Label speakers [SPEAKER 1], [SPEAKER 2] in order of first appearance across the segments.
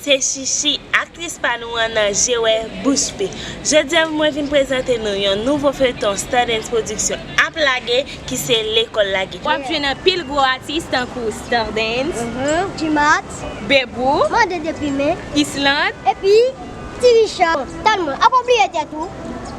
[SPEAKER 1] Se Shishi, aktris pa nou an nan Je wè bouch pe. Jodi a mwen vin prezante nou yon nouvo feyton Stardens Production ap lage ki se Lekòl Lage. Wap jwenn anpil gwo
[SPEAKER 2] atis tankou Stardens, Gmax,
[SPEAKER 3] Bebou, Ysselande, epi Ti Richard. Bon, tann mwen, apa w bliye tèt ou?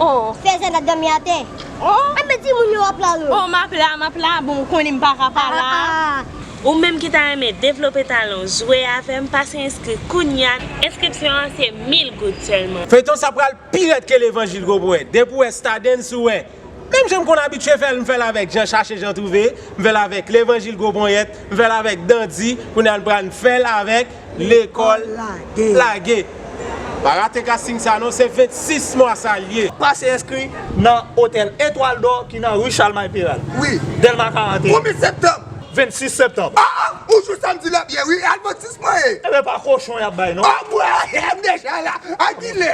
[SPEAKER 3] Oh. Fè
[SPEAKER 2] zen ap dòmi
[SPEAKER 3] atè. Oh. Anben
[SPEAKER 2] timoun yo wap la
[SPEAKER 3] yo? Oh map la, map
[SPEAKER 2] la, bon ou konnen m paka pa la. Ah ah. Ou menm ki ta
[SPEAKER 1] renmen devlope talan w jwe avè m pase enskri kounya enskripsyon an se 1000 goud sèlman. Feyton sa pral pi
[SPEAKER 4] rèd ke levanjil gwo bwè depi ou wè stadens ou wè menm jan m konn abitye fèl m fèl avèk jan chache jan twouve m fèl avèk levanjil gwo ponyèt m fèl avèk dandi kounye a n pral n fèl avèk Lekòl lage! Pa rate casting sa non, se 26 mwa sa l ye! Pase enskri
[SPEAKER 5] nan Otèl Etwal Dò ki nan Ri Chalmay Peral, Dèlma 41.
[SPEAKER 6] Premye
[SPEAKER 5] septanm! 26
[SPEAKER 6] septanm!
[SPEAKER 5] A a! Ou jwe samdi
[SPEAKER 6] la byen wi, al 26 mwa e! Ebyen pa kochon
[SPEAKER 5] y ap bay non! Anmwey! M deja
[SPEAKER 6] la! A kilè?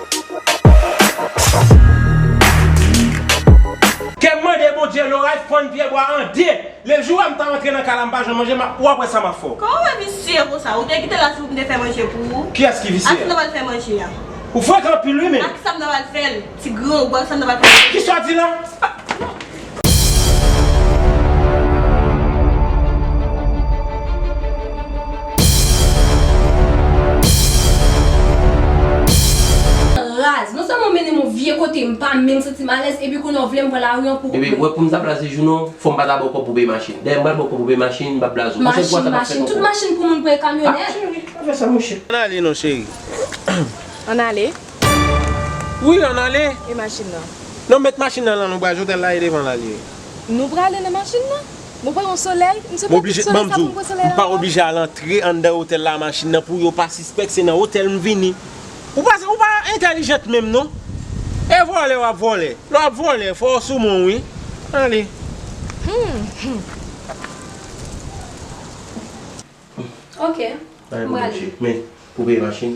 [SPEAKER 4] Kè m mande Bondye loray fann pyebwa an 2 Le jou a m ta antre nan kay la m pa jwenn manje map wap wè sa map fè w. Kòman mwen visye konsa
[SPEAKER 2] ou te kite la si pou m te fè manje pou ou? Kiyès ki visye? Ak sa m ta pral fè
[SPEAKER 4] manje a?
[SPEAKER 2] Ou frekan anpil
[SPEAKER 4] wi men. Ak sa m ta pral fè l?
[SPEAKER 2] Ti granmou ak sa m ta pral fè manje a? Kisa w di la?
[SPEAKER 7] Raz. Non sèlman w mennen m yon vye kote m pa menm santi m alèz epi kounye a w vle m pran lari an pou. Bebe, ou wè pou m ta blaze
[SPEAKER 8] jou non, fò m pa ta ba w kòb pou peye machin. Dèyè m pral ba w kòb pou peye machin, m pa blaze w. Pwochèn fwa sa pa fèt ankò. Machin, machin. Tout machin
[SPEAKER 7] pou moun pran e kamyonèt. Cheri, pa fè sa monchè.
[SPEAKER 8] Ann ale non cheri.
[SPEAKER 4] Ann
[SPEAKER 2] ale.
[SPEAKER 4] Wi an ale. E machin nan?
[SPEAKER 2] Non met machin nan
[SPEAKER 4] lan nou bra jotel la e devan la liye. Nou prale nan
[SPEAKER 2] machin nan? Mwen pran yon solèy, m se pa tout solèy sa poum pran
[SPEAKER 4] solèy la. M pa oblije al antre anndan otèl la a machin nan pou yo pa sispèk se nan otèl m vini. Ou pa ou pa entèlijant menm non. E vòlè wap vòlè. Lè wap vòlè fò ou sou menw wi. Ale. Humm.
[SPEAKER 7] Ok. M prale.
[SPEAKER 8] Men pou peye machin.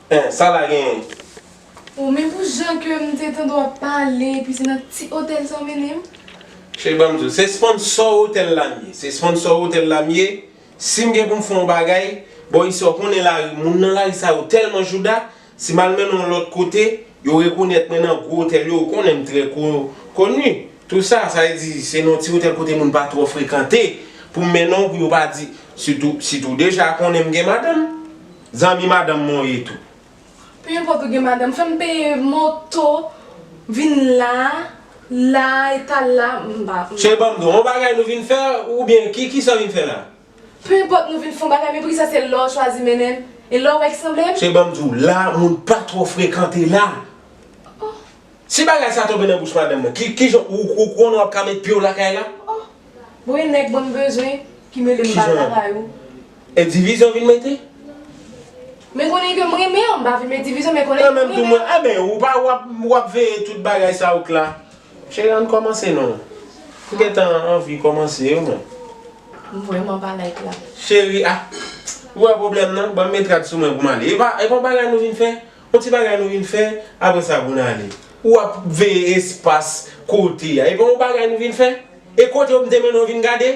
[SPEAKER 7] Hein sa la genyen?
[SPEAKER 4] Oh men
[SPEAKER 7] pou jan ke m te tande w ap pale epi se nan ti otèl sa w mennen
[SPEAKER 4] m. Cheri banm di w se sponsor otèl la
[SPEAKER 7] m ye
[SPEAKER 4] se sponsor otèl la m ye si m gen pou m fè yon bagay bò isi w konnen lari moun nan lari sa yo tèlman jouda si m al mennen w yon lòt kote yo rekonèt mwen nan gwo otèl yo ou konnen m trè koni tou sa sa vle di se nan yon ti otèl kote moun pa twò frekante pou m mennen w pou yo pa di sitou si tou deja konnen m gen madanm. Zanmi madanm mwen w ye tou. Peu importe ou
[SPEAKER 7] gen madanm fèm peye moto vin la la e ta la m pa. Cheri banm di w yon
[SPEAKER 4] bagay nou vin fè ou byen ki kisa w vin fè la. Peu importe nou
[SPEAKER 7] vin fon bagay men poukisa se la w chwazi mennen m e la w wè ki sanble m. Cheri banm di w la
[SPEAKER 4] moun pa twò frekante la. Oh. Si bagay sa tonbe nan bouch madanm nan ki kijan ou ou konnen wap ka met pyew lakay la. Oh bon yon nèg
[SPEAKER 7] bon bezwen ki melem bal lakay ou. E divizyon
[SPEAKER 4] vin mete.
[SPEAKER 7] Men konnen ke m renmen an m pa vle met divizyon men konnen ke m renmen an. Mwen menm tou mwen a
[SPEAKER 4] ben ou pa wap veye tout bagay sa out la. Cheri ann kòmanse non. M gentan anvi kòmanse wi mwen. M vrèman
[SPEAKER 7] pa like la. Cheri
[SPEAKER 4] ah ou wè pwoblèm nan banm met rad sou mwen pou m ale. Epa yon bagay nou vin fè Bon ti bagay nou vin fè apre sa bon ale. Ou ap veye espas kote a. Epa yon bagay nou vin fè? E kote yo m te mennen w vin gade?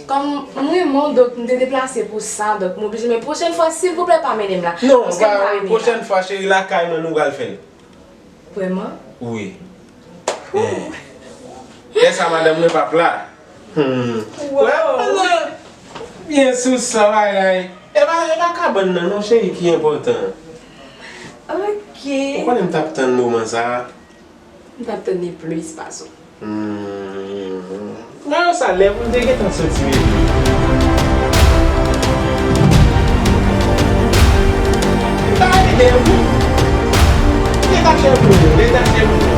[SPEAKER 4] Kòm
[SPEAKER 7] m renmen w donk m te deplase pou sa donk m oblije men pwochèn fwa silvouplè pa mennen m la. Non pa pwochèn
[SPEAKER 4] fwa cheri lakay mwen nou pral fè l. Vrèman?
[SPEAKER 7] Wi.
[SPEAKER 4] Hoo. Lè sa madanm mwen pap la. Humm wè ou pale byen sou sa bagay E pa e pa kabann nan non cheri ki enpòtan an
[SPEAKER 7] Ok Ou konnen m
[SPEAKER 4] tap tann moman sa M tap
[SPEAKER 7] tann li plis pase w Humm
[SPEAKER 4] wè ou sa lè pou n te gentan soti M ta ale dèyè w tou Leta chèf nou yo leta chèf nou
[SPEAKER 9] yo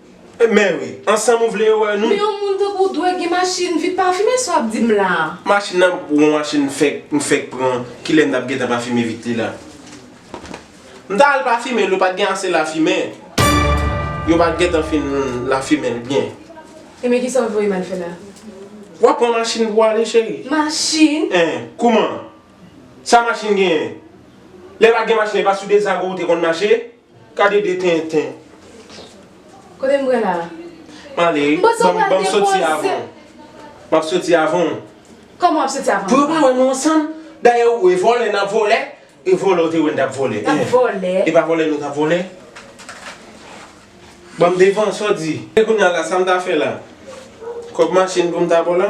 [SPEAKER 4] Mè wi, ansanm ou vle yo wè nou. Men yon moun tankou w dwe
[SPEAKER 7] gen machin vit pafime sa w ap di m la a. Machin nan pou yon
[SPEAKER 4] machin m fèk m fèk pran kilè m t ap gentan pafime vit li la. M ta al pafime l yo pat gen ase lafimen. Yo pat gentan fin lafimen l byen. Enben kisa
[SPEAKER 7] w voye m al fè la? W ap pran
[SPEAKER 4] machin pou w ale cheri. Machin? Eh
[SPEAKER 7] kouman?
[SPEAKER 4] Sa machin genyen? Lè pat gen machin e pa sou dezago ou te konn mache? Gade de tenten.
[SPEAKER 7] Kote m pral la? M ale wi. Bon
[SPEAKER 4] sa w pral depoze. M ap soti avan w. Kòman w ap soti
[SPEAKER 7] avan m? Pou yo pa wè nou ansanm.
[SPEAKER 4] Dayè ou wè vòlè n ap vòlè. E vòlè ou te wè n t ap vòlè. N ap vòlè. E pa
[SPEAKER 7] vòlè nou t ap vòlè.
[SPEAKER 4] Ban m devan, sa w di? E kounye a la, sa m ta fè la? Kòb machin pou m ta ba w la?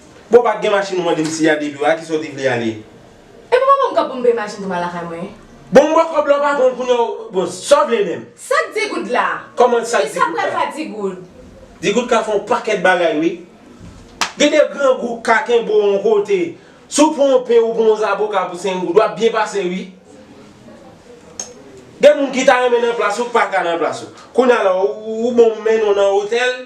[SPEAKER 4] Bon pat gen machin ou mandem si ya depiw la kisa ou te vle ale. Epa pa banm
[SPEAKER 7] kòb poum peye machin pou mal lakay mwen. Bon m ba w kòb la
[SPEAKER 4] w pa pranl kounya w bon sa w vle menm. Sak di goud la?
[SPEAKER 7] Kòman sak di goud la? Kisa
[SPEAKER 4] pral fè di goud?
[SPEAKER 7] Di goud ka fè yon
[SPEAKER 4] pakèt bagay wi. Gen de grangou k ka kenbe w yon kote. Si w pran yon pen ou pran yon zaboka pou 5 goud wap byen pase wi. Gen moun ki ta renmen nan plas ou k paka nan plas ou. Kounya la ou bon m mennen w nan otèl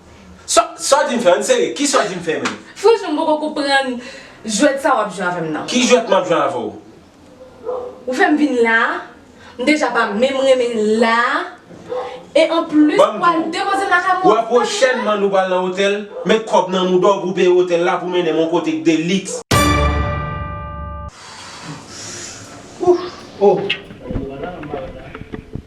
[SPEAKER 4] Sa w di m fè an serye? Ki sa w di m fè menm? Franchman m poko konprann
[SPEAKER 7] jwèt sa wap jwe avè m nan. Ki jwèt map jwe avè w?
[SPEAKER 4] Ou
[SPEAKER 7] fè m vin la, m deja pa menm renmen n la, e an plis ou pral depoze m
[SPEAKER 4] lakay
[SPEAKER 7] mwen. Wè pwochènman nou
[SPEAKER 4] pral nan otèl, met kòb nan mouda w pou w peye otèl la pou w mennen m yon kote k de liks.
[SPEAKER 8] Ooh!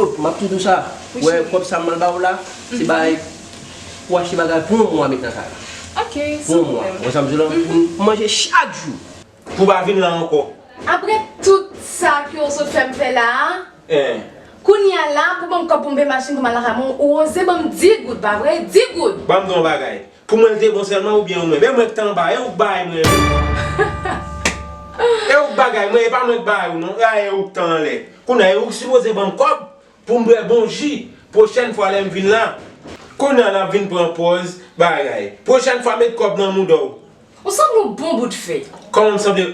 [SPEAKER 8] Ooh map tou dou sa Wi cheri. Wè kob sa mwen baw la se bay pou achte bagay pou yon mwa met nan kay la. Ok pou
[SPEAKER 7] yon mwa ou wè
[SPEAKER 8] sam di w la pou manje chak jou. Pou pa vin la
[SPEAKER 4] anko. Aprè tout
[SPEAKER 7] sa ke w sot fèm fè la a kounya la pou banm kob pou m peye machin pou m al nan Raymond ou oze banm 10 goud pa vre 10 goud. Banm di w yon bagay
[SPEAKER 4] Pou mwen l te bon sèlman ou byen ou menm. E mwen k te anba, e ou k bay mwen yo. E ou k bagay mwen, e pa mwen k bay ou non. A e ou k te anlè. Kounye a e ou k sipoze ban m kòb pou m bwè bon ji pwochèn fwa lè m vin la. Kounye a l ap vin pran pòz bagay. Pwochèn fwa met kòb nan mouda w. Ou sanble yon bon
[SPEAKER 7] bout fè. Kòman m sanble?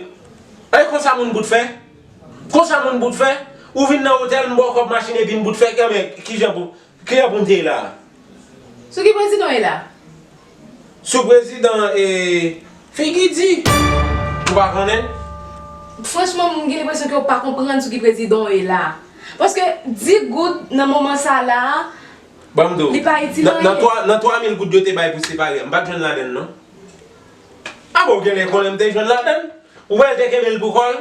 [SPEAKER 4] E konsa moun bout fè? Konsa moun bout fè? Ou vin nan otèl m ba w kòb machin epi m bout fè? Enben, kijan pou. Kilè poum te la.
[SPEAKER 7] Sou ki prezidan w ye la? Sou
[SPEAKER 4] prezidan e figi di. Ou pa konnen? Franchman
[SPEAKER 7] m gen lenpresyon ke w pa konprann sou ki prezidan w ye la. Paske 10 goud nan moman sa a la a Banm di w. Li
[SPEAKER 4] pa itil
[SPEAKER 7] anyen. Nan 3 mil
[SPEAKER 4] goud yo te bay pou separe a m pat jwenn ladann non. A bon w genlè konnen m te jwenn ladann. Ou wè l te kenbe l pou kò l?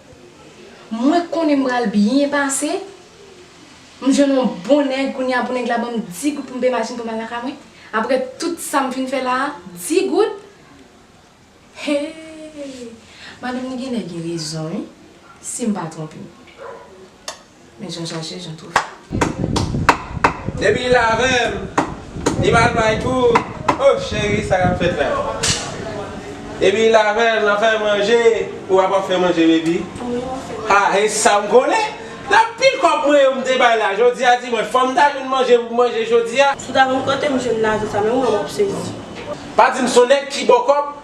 [SPEAKER 7] Mwen konnen m pral byen pase, m jwenn yon bon nèg kounye a pou nèg la ban m 10 goud pou m peye machin pou m al nan kay mwen, aprè tout sa m fin fè la a, 10 goud? Hee! Madanm li gen lè gen rezon wi, si m pa twonpe m. Men jan chache jan twofè. Depi
[SPEAKER 4] li la avèm li pa al bay tou oh cheri sa kap fèt la depi li la avèm lap fèm manje ou a pap fèm manje baby ha e sam konnen nan pil kòb mwen yo mte bay la jodia dimanch fòm ta jwenn manje poum manje jodia. Si w ta konn kotem jwenn
[SPEAKER 9] lajan sa menm mwen wap sezi. Pa dim son
[SPEAKER 4] nèg ki baw kòb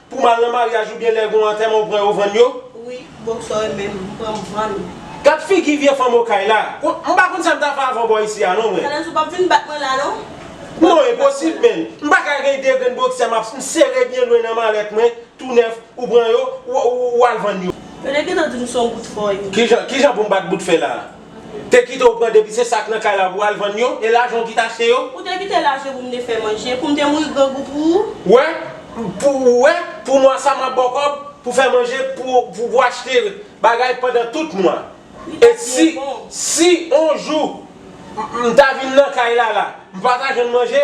[SPEAKER 4] Pou m al nan maryaj oubyen lè gon antèman ou pran yo vann yo? Wi, bon
[SPEAKER 9] sa w renmen m pran m vann ou. Gad figi
[SPEAKER 4] vye fanm okay la. M pa konn sa m ta fè avè w bò isi a non mwen. Tandans
[SPEAKER 9] ou pap vin bat mwen la non. Non enposib
[SPEAKER 4] menn. M pa ka gen 2 grenn boksè m ap m sere byen lwen nan malèt mwen tou nèf ou pran yo ou al vann yo. Yo te gentan di m son bout fè
[SPEAKER 9] w ye.
[SPEAKER 4] Kijan
[SPEAKER 9] pou m
[SPEAKER 4] bat bout
[SPEAKER 9] fè la?
[SPEAKER 4] Te kite ou pran depi se sak nan kay la pou al vann yo e lajan ou ki t achte yo. Ou te kite lajan pou m te
[SPEAKER 9] fè manje, pou m te mouri grangou pou ou. Wè, pou ou wè,
[SPEAKER 4] pou mwa sa m ap ba w kòb pou fè manje pou pou achte bagay pandan tout mwa. Li t ap byen bon. E si, si on jou m ta vin nan kay la la, m pa ta jwenn manje,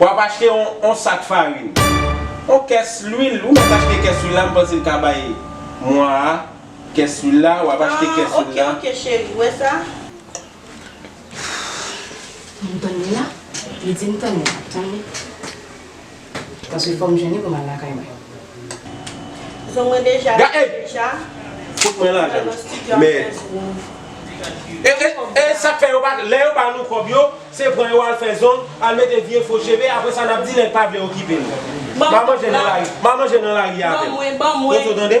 [SPEAKER 4] W ap achte yon yon sak farin. Yon kès lwil, ou mèt achte kès lwil la, m panse l ka bay mwa a kès lwil la, w ap achte kès lwil la. Ah, ok, ok cheri, ou wè sa?
[SPEAKER 7] Ou m tann li la? Li di m tann li la, tann li. Paske fò m jwenn li pou m al lakay mwen.
[SPEAKER 9] Zong mwen deja Ga ey! deja
[SPEAKER 4] Fout mwen lajan nan studio ap Men. fè zong. E e e sak fè yo pa lè yo ba nou kòb yo se pran yo al fè zong al mete vye fo cheve aprè sa nap di nèg pa vle okipe nou. Ban manje nan lari, ban manje nan lari a avèm. Ban mwen, ban mwen. Toto tande?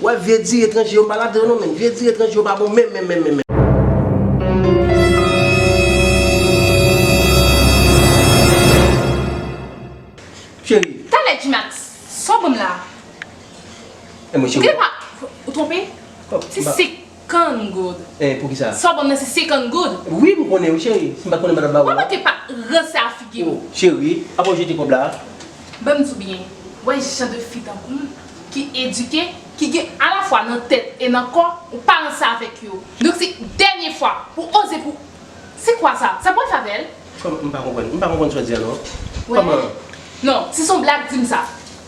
[SPEAKER 8] Wè vye di etranje yo m pa ladan yo non menn vye di etranje yo pa bon menm menm menm menm. Cheri. Talè Gmax
[SPEAKER 2] sa w banm la.
[SPEAKER 8] Ou te pa ou twonpe?
[SPEAKER 2] Se sik. Can goud. Eh poukisa? Sa w banm
[SPEAKER 8] nan se 50
[SPEAKER 2] goud. Wi m konnen wi cheri.
[SPEAKER 8] Si m pat konnen m pa tap ba ou Wap la. manke pa ranse
[SPEAKER 2] a figi w. Oh cheri, apa w jete
[SPEAKER 8] kob la? Banm di w byen,
[SPEAKER 2] wè jan de fi tankou m ki edike, ki gen alafwa nan tèt e nan kò, ou pa ranse avèk yo. Donk se dènye fwa ou oze pou Se kwa sa? Sa bwè favèl? Kòman m pa konprann? M
[SPEAKER 8] pa konprann sa w di a non. Wè? Kòman?
[SPEAKER 2] Non, si son blag di m sa.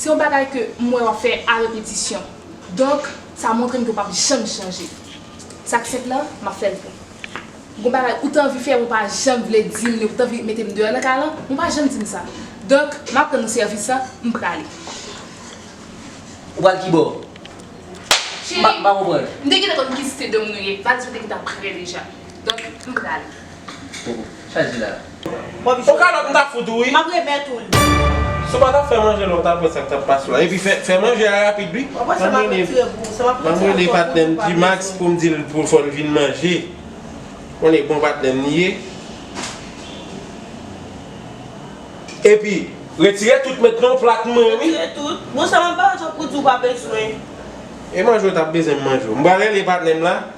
[SPEAKER 2] Se yon bagay ke m wè w ap fè a repetisyon. Donk, sa montre m ke w p ap janm chanje. Sa ki senp lan, m ap fè l pou ou. Gon bagay ou te anvi fè, ou pa janm vle di m li, ou te anvi mete m deyò nan kay lan, men ou pa janm di m sa. Donk, m ap rann ou sèvis lan, m prale.
[SPEAKER 8] Ou pral ki bò? Cheri,
[SPEAKER 2] m pa konprann.
[SPEAKER 8] M te gentan konn ki site
[SPEAKER 2] dom nou ye. Valiz mwen te gentan prè deja. Donk, m prale.
[SPEAKER 8] O kalòt
[SPEAKER 4] m ta fout ou wi. Map remèt ou li.
[SPEAKER 9] Si w pa tap fè
[SPEAKER 4] manje la w tap wè sak tap pase la epi fè manje a rapid wi Map rele patnè m Gmax pou m dil pou fò l vin manje Bon e bon patnè m li ye Epi retire tout met nan yon plat m wè wi
[SPEAKER 9] E manje
[SPEAKER 4] w tap bezwen m manje w M pral rele patnè m la.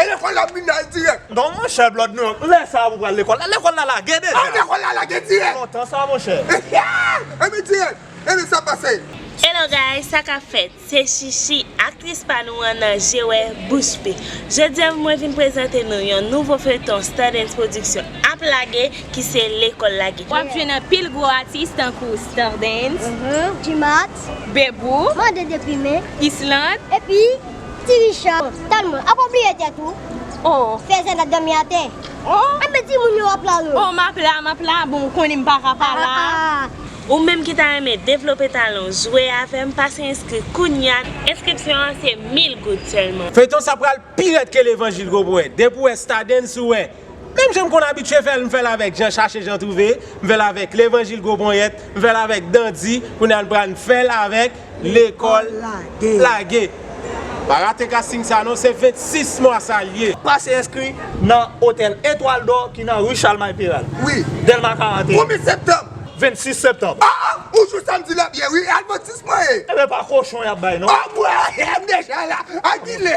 [SPEAKER 6] E lekòl la vin nan dirèk. Non monchè blòd nou
[SPEAKER 5] yo lè sa a pou pral lekòl la lekòl la lage
[SPEAKER 6] deja.
[SPEAKER 5] A lekòl
[SPEAKER 6] la
[SPEAKER 5] lage dirèk.
[SPEAKER 6] Lontan
[SPEAKER 5] sa
[SPEAKER 6] monchè.
[SPEAKER 5] Anmwey dirèk
[SPEAKER 10] anmwey sa pase. Hello guys sa
[SPEAKER 1] kap fèt se Shishi aktris pa nou an nan je wè bouch pi jodia mwen vin prezante nou yon nouvo feuilleton Stardens production ap lage ki se lekòl lage wap jwenn anpil gwo
[SPEAKER 11] atis tankou Stardens, Djimat,
[SPEAKER 3] Bebou.
[SPEAKER 11] Mande deprime.
[SPEAKER 3] Islande. Epi Ti Richard. Talman. Apa w bliye tèt ou? Oh. Fèzè
[SPEAKER 11] n ap dòmi
[SPEAKER 3] atè. Oh. Anben timoun
[SPEAKER 11] yo ap la
[SPEAKER 3] yo. Oh m ap la, m ap la.
[SPEAKER 11] Bon ou konnen m pa ka pa la. Ah ah ah. Ou menm ki
[SPEAKER 1] ta renmen devlope talan w jwe avè m pase enskri kounya. Enskripsyon an se 1000 goud sèlman. Feyton sa pral pi
[SPEAKER 4] rèd ke levanjil gwo bwè depi w wè stadens ou wè. Menm jan m konn abitye fè l, m fè l avèk Jan chache Jan twouve, m fè l avèk Levanjil gwo ponyèt, m fè l avèk Dandi, kounye a n pral n fè l avèk Lekòl lage. Pa rate kasting sa non, se 26 mwa sa l ye. Pase enskri
[SPEAKER 5] nan Otèl Etwal Dò ki nan Ri Chalmay Peral, Dèlma 41. 26
[SPEAKER 10] septanm.
[SPEAKER 5] Ah ah ou jou samdi
[SPEAKER 10] la byen wi al 26 mwa e. Ebyen pa kochon
[SPEAKER 5] yap bay non. Anmweyy m
[SPEAKER 10] deja la a kilè.